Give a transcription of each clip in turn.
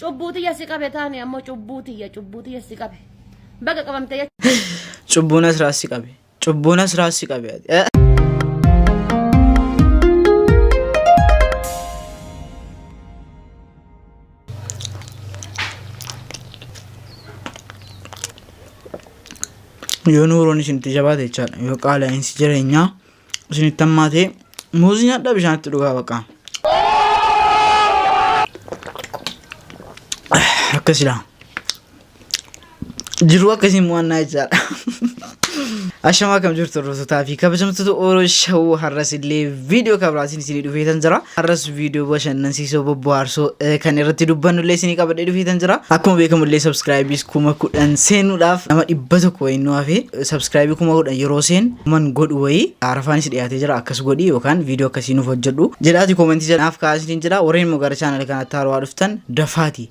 Cubbuu tiyya si qabe taane ammoo cubbuu tiyya cubbuu tiyya si qabe. Baga qabamte jechuudha. Cubbuun asirraa si qabe. Cubbuun asirraa si qabe. Eh. Yoo nuuroon isinitti jabaate jechaadha. Yoo qaala'iinsi jireenyaa isinitti hammaatee muuzii nyaadhaa bishaanitti dhugaa baqa. Akkasidha. Jiruu akkasiin mo'annaa jechaadha. Ashamaa kam jirtu hordoftotaa fi kabajamtoota Oro Shawuu har'as illee viidiyoo kabiraatiin isinii dhufeetan jira. Har'as viidiyoo bashannansiisoo bobbohaarsoo kan irratti dubbannullee isinii qabadhee dhufeetan jira. Akkuma beekamullee sabskraayibiis kuma kudhan seenuudhaaf nama dhibba tokko wayii nu hafe sabskraayibii kuma kudhan yeroo seen man godhu wayii arafaanis dhiyaatee jira akkas godhi yookaan viidiyoo akkasii nuuf hojjedhu jedhaati koomentii jala naaf kaa'aa isiniin jedha warreen immoo gara chaanala kanatti haarawaa dhuftan dafaati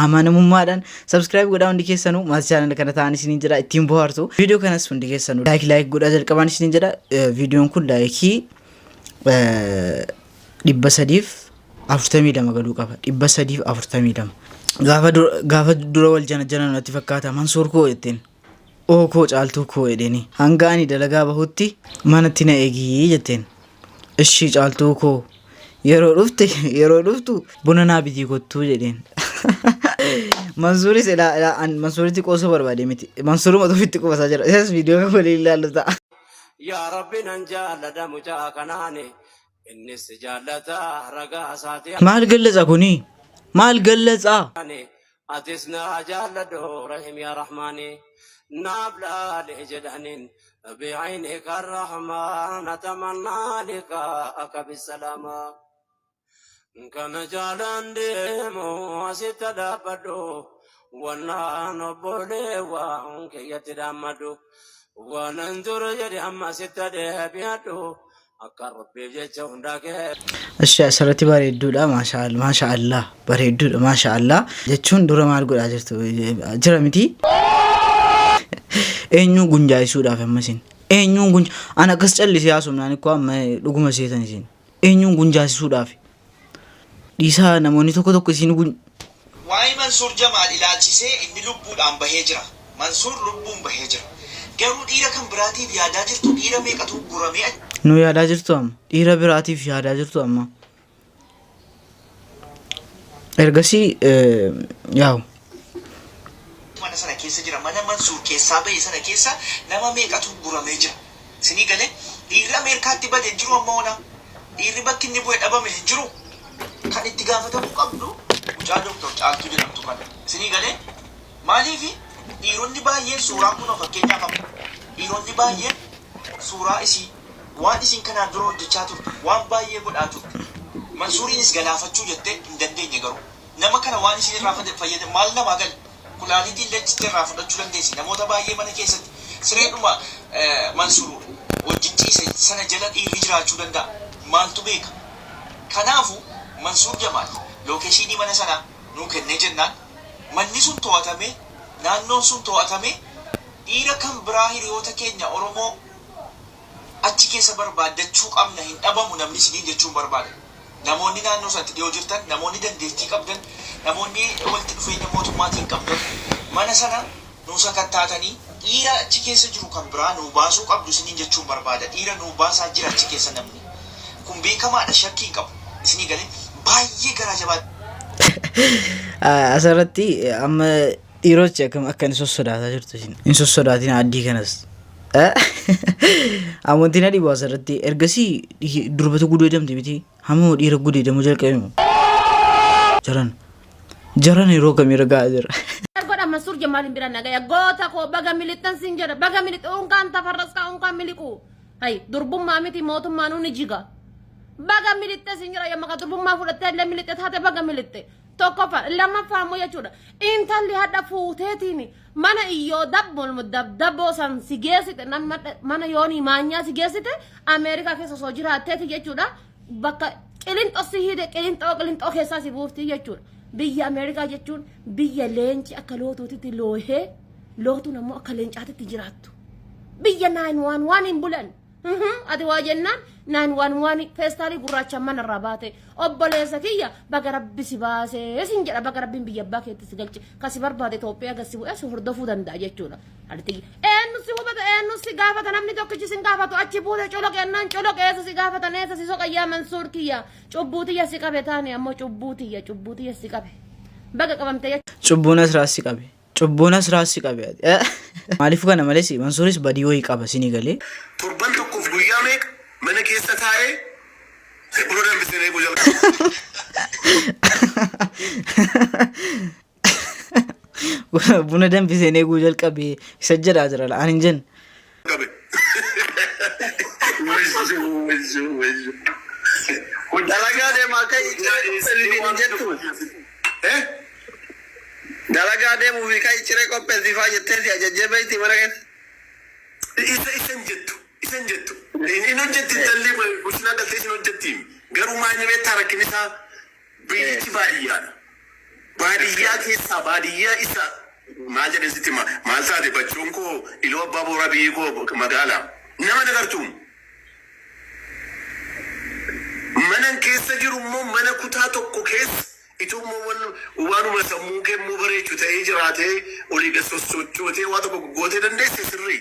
amanamummaadhaan subscribe godhaa hundi keessanuu maatii channel kana ta'an isiniin jedha ittiin bohaartu viidiyoo kanas hundi keessanuu like like godhaa jalqabaan isiniin jedha Eh, viidiyoon kun laayikii dhibba sadiif afurtamii lama galuu qaba dhibba sadiif afurtamii lama gaafa dura- gaafa dura wal jana jana natti fakkaata mansuur koo jetteen Oo koo caaltuu koo edheni hanga ani dalagaa bahutti manatti na egii jetteen ishii caaltuu koo yeroo dhufte yeroo dhuftu buna naa bitii kottuu jedheen mansuuris ilaa ilaa an mansuuritti qoosuu barbaade miti mansuuruma ofitti qubasaa jira isas viidiyoo kan waliin ilaallu ta'a yaa rabbi nan jaalladha mucaa kanaani Innis si jaallata ragaa isaati Maal anis gallaxa kuni? Maal gallaxa? ani atis na jaalladhu rahim yaa rahmaani naaf laali jedhaniin bi ayni kan rahmaana tamannaa lika akka bisalaamaa kana jaalaan deemu asitti dhaabbadhu wannaan obboleewwan kiyyatti dhaammadhu waanan ture jedhe amma sitti deebi'adhu Akka rabbiif jecha hundaa kee. Asha asirratti bareedduudha maashaa Allah maashaa Allah bareedduudha maashaa Allah jechuun dura maal godhaa jirtu jira miti eenyuun gunjaayisuudhaaf amma isin eenyuun gunja an akkas callisee haasofnaan ikkoo amma dhuguma seetan isin eenyuun gunjaasisuudhaaf Dhiisaa namoonni tokko tokko isiin gun. Waa'ee Mansuur Jamaal ilaalchisee inni lubbuudhaan bahee jira. Mansuur lubbuun bahee jira. Garuu dhiira kan biraatiif yaadaa jirtu dhiira meeqatu ugguramee achi. Nuu yaadaa jirtu amma. Dhiira biraatiif yaadaa jirtu amma. Ergasii yaa'u. mana sana keessa jira mana mansuur keessaa bahe sana keessa nama meeqatu guramee jira sinii galee dhiirri ameerkaatti bade hin jiru amma onaa dhiirri bakki inni bu'e dhabame hin jiru kan itti gaafatamuu qabdu mucaa doktor caaltuu jedhamtu kana sinii galee maaliifi dhiironni baay'een suuraa kunoo fakkeenyaaf amma dhiironni baay'een suuraa isii waan isiin kanaan dura hojjechaa turte waan baay'ee godhaa turte mansuuriinis galaafachuu jettee hin dandeenye garuu Nama kana waan isiin irraa fayyadamte maal namaa gale? Kulaalitii illee achitti irraa fudhachuu dandeessi. Namoota baay'ee mana keessatti sireedhuma Mansuur wajjin ciise sana jala dhiirri jiraachuu danda'a. Maaltu beeka? Kanaafu, Mansuur Jamaal lookeshiinii mana sanaa nuu kennee jennaan manni sun too'atamee, naannoon sun too'atamee dhiira kan biraa hiriyoota keenya Oromoo achi keessa barbaaddachuu qabna hin dhabamu namni isiniin jechuun barbaada. Namoonni naannoo sanatti dhiyoo jirtan, namoonni dandeettii qabdan, namoonni walitti dhufeenya mootummaatiin qabdan mana sana nuu sakattaatanii dhiira achi keessa jiru kan biraa nuu baasuu qabdu isiniin jechuun barbaada. Dhiira nuu baasaa jira achi keessa namni. Kun beekamaadha shakkii hin qabu. Isinii galee? Baay'ee garaa jabaadha. Asirratti amma Dhiirochi akkam akka inni sossodaataa jirtu isin. Hin sossodaatina addii kanas. Amantii na dhibu asirratti ergasii dhihi- durbatu gudeedamti miti hamma dhiira gudeedamuu jalqabe moo. Jaran. Jaran yeroo kamii ragaa jira. Godha Masur Jamal bira nagaya goota koo baga militan sin jedha baga milit unkaan tafarras kaa unkaan miliqu hay durbummaa miti mootummaa nuuni jiga baga militte sin jedha yamma ka durbummaa fudhattee illee militte taate baga militte Tokkoffaa lammaffaa immoo jechuudha intalli hadha fuuteetiin mana iyyoo dabbolmu dabdaboo san si geessite nan madha- mana yoonii maanyaa si geessite ameerikaa keessa osoo jiraatteeti jechuudha bakka qilinxoo si hiite qilinxoo qilinxoo keessaa si buufti jechuudha biyya ameerikaa jechuun biyya leenci akka lootuutitti loohee lootuun ammoo akka leencaatitti jiraattu biyya naan waan waan hin bulan Ati waa jennaan naan waan waan feestaalii gurraachaan mana irraa baate obboleessa kiyya baga rabbi si baasee sin jedha baga rabbiin biyya abbaa keetti si galche kan si barbaade Itoophiyaa gad si bu'ee si hordofuu danda'a jechuudha. Ati eenyu si hubata eenyu si gaafata namni tokkichi sin gaafatu achi buute coloqeennaan coloqeessa si gaafatan eessa si soqayyaa mansuur kiyya cubbuutiyya si qabe taane ammoo cubbuutiyya cubbuutiyya si qabe baga qabamte jechuudha. Cubbuun asirraa si qabe. Cubbuu nasraa si qabe ati. Eh? Maaliif kana malee si mansuuris badii wayii qaba sini galee. Torban tokkoof guyyaa meeqa mana keessa taa'ee Zebro danbiseen eeguu jalqabe. Buna danbiseen eeguu jalqabe isa jedhaa jira la. Ani hin jenne. Qabe. Wayyo wayyo wayyo. Dalagaa deemaa akka icciree qopheessitiin hin jettu. Eh? Dalagaa deemuu fi kan icciree qopheessiifaa jettee si ajajjee beekti mana keessa. Isa isan jettu isan jettu hin hojjetti intalli bulchinaa galtee isin hojjetti garuu maal ni beektaa rakkin isaa Biyyichi baadiyyaa dha. Baadiyyaa keessaa baadiyyaa isa maal jedheen sitti hima? Maal taate Bachoon koo Iluu Abbaa Booraa biyyi koo magaala. Nama hin agartu. Manan keessa jiru immoo mana kutaa tokko keessa itoo immoo wan waanuma sammuun kee immoo bareechu ta'ee jiraatee olii gad sossochootee waa tokko gootee dandeesse sirrii.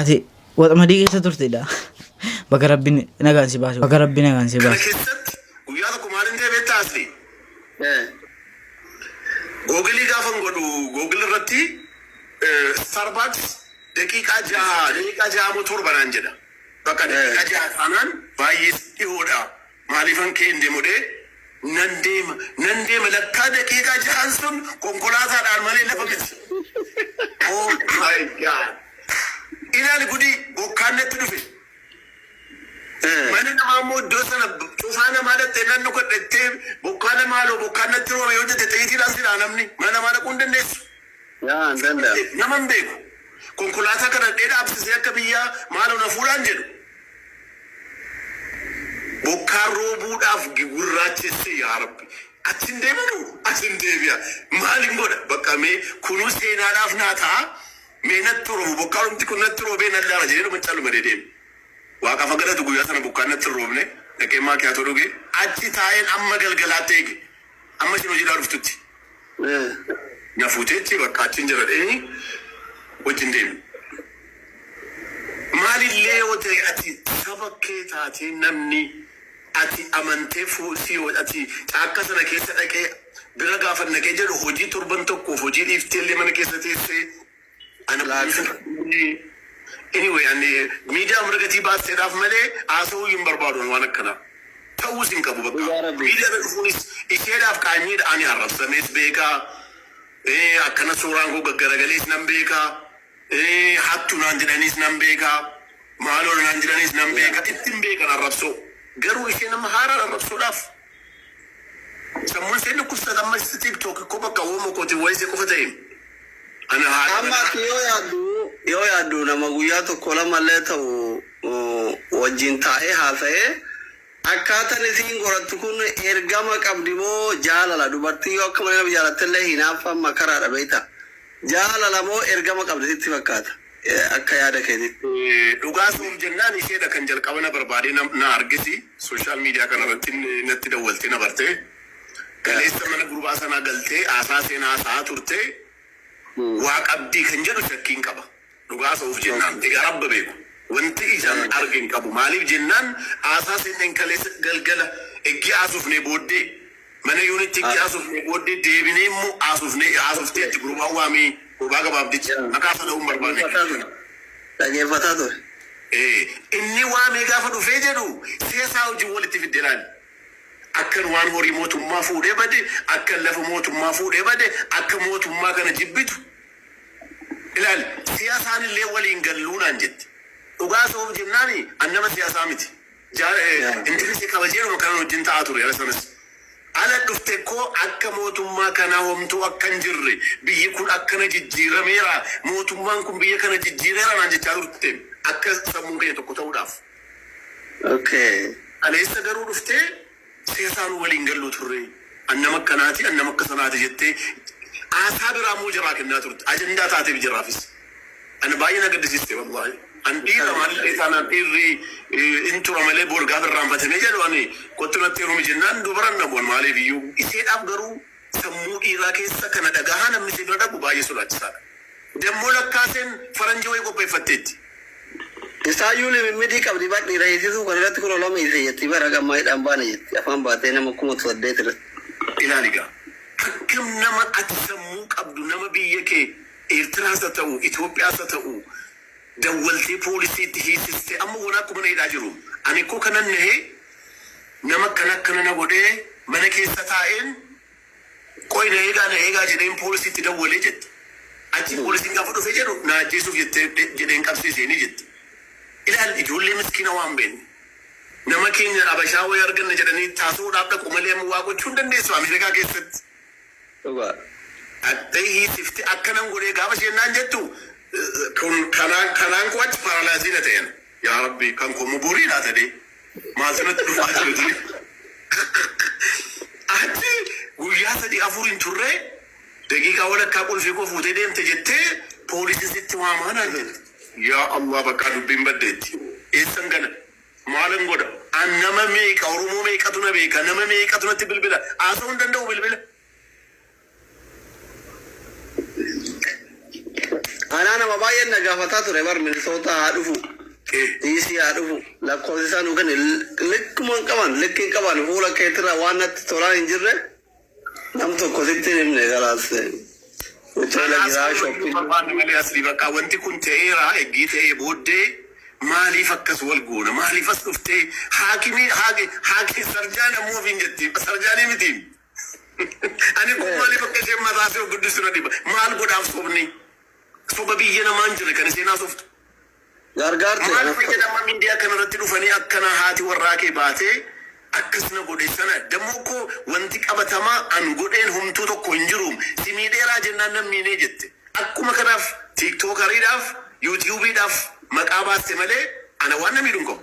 Ati waxamadii keessa turtedha. Baga rabbi nagaan si baase. Baga rabbi nagaan si Kana baase. keessatti guyyaa tokko maalin ta'e beektaa asli? Googilii gaafan godhu googil irratti Starbucks daqiiqaa jaha daqiiqaa jaha moo torba naan jedha. Bakka daqiiqaa jaha taanaan baay'ee dhihoodha. Maalifan ka'ee hin deemu dhee nan deema nan deema lakkaa daqiiqaa jahan sun konkolaataa dhaan malee lafa miti. Oh my God. Ilaali gudii bokkaan natti dhufe. Mana namaa immoo iddoo sana cufaa namaa dhattee nan dhukadhettee bokkaa namaaloo bokkaan natti roome yoo jette xiyyitii dhaan si dhaa namni mana namaa dhaquu hin dandeessu. Yaa an danda. Nama hin beeku. Konkolaataa kadhadhee dhaabsisee akka biyyaa maaloo na fuudhaan jedhu. Bokkaan roobuudhaaf gigurraachesse yaa rabbi. Achi hin deemanu as hin deebi'a. Maalin godha bakka mee kunuu seenaadhaaf naa ta'a. Mee natti roobu bokkaanumti kun natti roobee nan laala jedhee dhuma caluma dedeeme. Waaqaaf haa galatu guyyaa sana bokkaan natti hin roobne. Dhaqee maakiyaatoo dhuge. Achi taa'een amma galgalaatti eege. Amma ishiin hojiidhaa dhuftutti na fuuteetti bakka achiin jira dheenyi wajjin deemi. Maalillee yoo ta'e ati saba kee taatee namni ati amantee fuu si yoo ati caakka sana keessa dhaqee bira gaafannaqee jedhu hojii torban tokkoof hojii dhiifteellee mana keessa teessee Ani Laaksa. Anyway ani miidiyaa hunda gatii baasseedhaaf malee haasa'uu hin barbaadu ani waan akkanaa. Ta'uus hin qabu bakka. Dhugaa rabbii. Miidiyaa irra dhufuunis isheedhaaf qaanyiidha ani arrabsamees beeka. Eh, Akkana suuraan koo gaggaragalees nan beeka. Eh, Hattu naan jedhaniis nan beeka. Maaloo naan jedhaniis nan beeka. Ittin beekan arrabsoo. Garuu ishee nama haaraan arrabsuudhaaf. Sammun ishee dhukkubsata amma ishee tiktok ikkoo bakka uuma kooti waa'ee ishee qofa ta'e ana haadha Amma manaa ati yoo yaaddu yoo yaaddu nama guyyaa tokko lama illee ta'u uh, wajjin taa'ee haasa'ee akkaataan isiin gorattu kun ergama qabdi moo jaalala dubartiin yoo akka malee nama jaalatte illee hinaaffaan makaraadha beekta jaalala moo ergama qabdi sitti fakkaata. Akka yaada keetitti. Dhugaa soom jennaan isheedha kan jalqaba na barbaadee na arges social media kana irratti natti dawwaltee na bartee kaleessa mana gurbaa sanaa galtee haasaa seenaa haasa'aa turte waa qabdii kan jedhu shakkiin qaba dhugaa haasa'uuf jennaan egaa rabba beeku wanti ijaan arge hin qabu maaliif jennaan haasaa seenneen kaleessa galgala eggii haasofnee booddee Mana unit itti haasofnee booddee deebinee immoo haasofnee haasofteetti gurbaan waamii gurbaa gabaabdicha maqaa isaa dha'uu hin barbaanne. Dhageeffataa ture. Dhageeffataa ture. Ee, inni waamee gaafa dhufee jedhu seesaa wajjin walitti fidde laali. Akkan waan horii mootummaa fuudhee bade, akkan lafa mootummaa fuudhee bade, akka mootummaa kana jibbitu ilaali. Siyaasaan illee waliin galluu naan jette. Dhugaa soof jennaani an nama siyaasaa miti. Jaal Indirisi kabajeedhuma kanan wajjin ta'aa ture yara sanas. Ala dhufte koo akka mootummaa kanaa homtuu akka hin jirre, biyyi kun akkana jijjiirameera, mootummaan kun biyya kana jijjiireera naan jechaa turte akka sammuun keenya tokko ta'uudhaaf. Okay. Kaleessa garuu dhuftee Seesaanuu waliin gallu turre. An nama akkanaati, an nama akka sanaati jettee haasaa biraa immoo jaraa kennaa turte. Ajandaa taateef jaraafis. Ana baay'ee na gaddisiiste wallaahi. An dhiira maalillee taanaan dhiirri hin tura malee boor gaafa irraanfatame jedhu ani kottu natti heerumi jennaan dubaran dhabu an maaliif iyyuu. Iseedhaaf garuu Sammuu dhiiraa keessa kana dhagahaa namni si bira dhabu baay'ee sodaachisaadha. Dammoo Lakkaaseen faranjii wayii qopheeffatteetti. Isaayyuu limimmidii qabdi bar dhiira hiisisuu kan irratti kunoo lama hiise jetti bar haga ammaa hidhaan baane jetti afaan baatee nama kuma saddeet irratti. Ilaali egaa akkam nama ati sammuu qabdu nama biyya kee Eertiraas ha ta'u Itoophiyaas ha ta'u dawwaltee poolisiitti hiisiste amma wanaakku mana hidhaa jiruum ani kko kanan nahee Nama akkana akkana na godhee mana keessa taa'een qoyi na eegaa na eegaa jedheen poolisiitti dawwale jette. Achii poolisiin gaafa dhufe jedhu na ajjeesuuf jettee jedheen qabsee isheenii jette. Ilaali ijoollee miskiina waan beenne. Nama keenya abashaa wayii arganna jedhanii itti haasa'uudhaaf dhaqu malee amma waa gochuu hin dandeessu Ameerikaa keessatti. Dhugaa. Dhaxxee hiisifte akka nan godhee gaafa isheen naan jettu kun kanaan kanaan koo achi paralyze na ta'een yaa rabbi kan koo immoo borii laata dee maaltu natti dhufaa jiru ture achi guyyaa sadii afur hin turre daqiiqaa walakkaa qulfii koo fuutee deemte jettee poolisiin sitti waamaa naan jette yaa allah bakkaa dubbiin baddeetti eessan gana Maalin godha? An nama meeqa, Oromoo meeqatu na beeka, nama meeqatu natti bilbila? Haasa'uu hin danda'u bilbila. Anaa nama baay'een na gaafataa ture bar Minisootaa haa dhufu. Eh. DC haa dhufu. Lakkoofsi isaa nuu kenne likkuma hin qaban likki hin qaban fuula keetirraa waan natti tolaa hin jirre Nam tokko sitti hin himne kalaas. Hoteela Kanaas jiraa kabajuun shopping. barbaanne malee asli bakka wanti kun ta'eera eggii ta'ee booddee maaliif akkas wal goona maaliif as dhuftee haakimii haaki haaki sarjaan ammoo ofiin jetti sarjaanii miti ani kun Eh, maaliif akka isheen mataa ishee guddisu na dhiba maal godhaaf sobni soba biyya namaan jirre kan isheen haasoftu gargaarte. Maal fayyada amma mindiyaa kana irratti dhufanii akkana haati warraa kee baatee akkas na godhe sana dammoo kko wanti qabatamaa an godheen homtuu tokko hin jiruum si miidheeraa jennaan nan miinee jette akkuma kanaaf tiktokariidhaaf yutubiidhaaf maqaa baaste malee ana waan na miidhu hin qabu.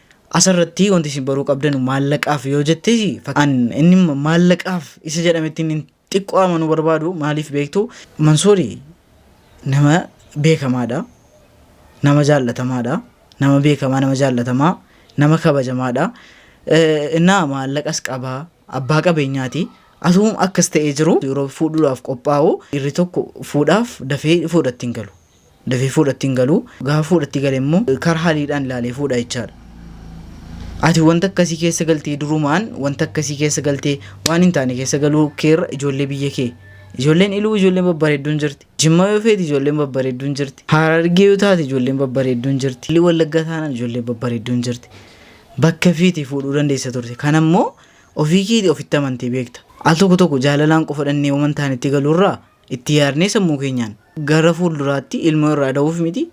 Asirratti wanti isin baruu qabdanu maallaqaaf yoo jette an inni maallaqaaf isa jedhametti inni xiqqoo amanuu barbaadu maaliif beektu Mansuuri nama beekamaadha nama jaallatamaadha nama beekamaa nama jaallatamaa nama kabajamaadha innaa maallaqas qaba abbaa qabeenyaati asuum akkas ta'ee jiru yeroo fuudhuudhaaf qophaa'u irri tokko fuudhaaf dafee fuudhatti hin galu. dafee fuudhatti hin galu. Gaafa fuudhatti gale immoo karaa haliidhaan ilaalee fuudha jechaadha. Ati wanta akkasii keessa galtee durumaan wanta akkasii keessa galtee waan hin taane keessa galuu keerra ijoollee biyya kee. Ijoolleen iluu ijoolleen babbareedduun jirti. Jimmaa yoo feete ijoolleen babbareedduun jirti. Harargee yoo taate ijoolleen babbareedduun jirti. Iluu wallaggaa taanaan ijoolleen babbareedduun jirti. Bakka feete fuudhuu dandeessa turte. Kana immoo ofii keetii ofitti amantee beekta. Al tokko tokko jaalalaan qofa dhannee waan hin taanetti galuurraa Itti yaadnee sammuu keenyaan gara fuulduraatti ilmoo irraa da'uuf miti.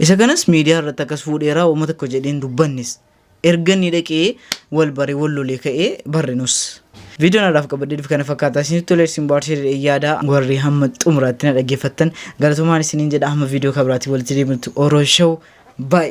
Isa kanas miidiyaa irratti akkas fuudheeraa uuma tokko jedheen dubbannes. Erga inni dhaqee wal bare wal lolee ka'ee barre nus. Viidiyoon har'aaf qabadhee dhufe kana fakkaataa isinitti tolee isin baarsee jedhee yaada warri hamma xumuraatti na dhaggeeffattan galatoomaan isiniin jedha hamma viidiyoo kabiraatiin walitti deebinutti oroo show baay'ee.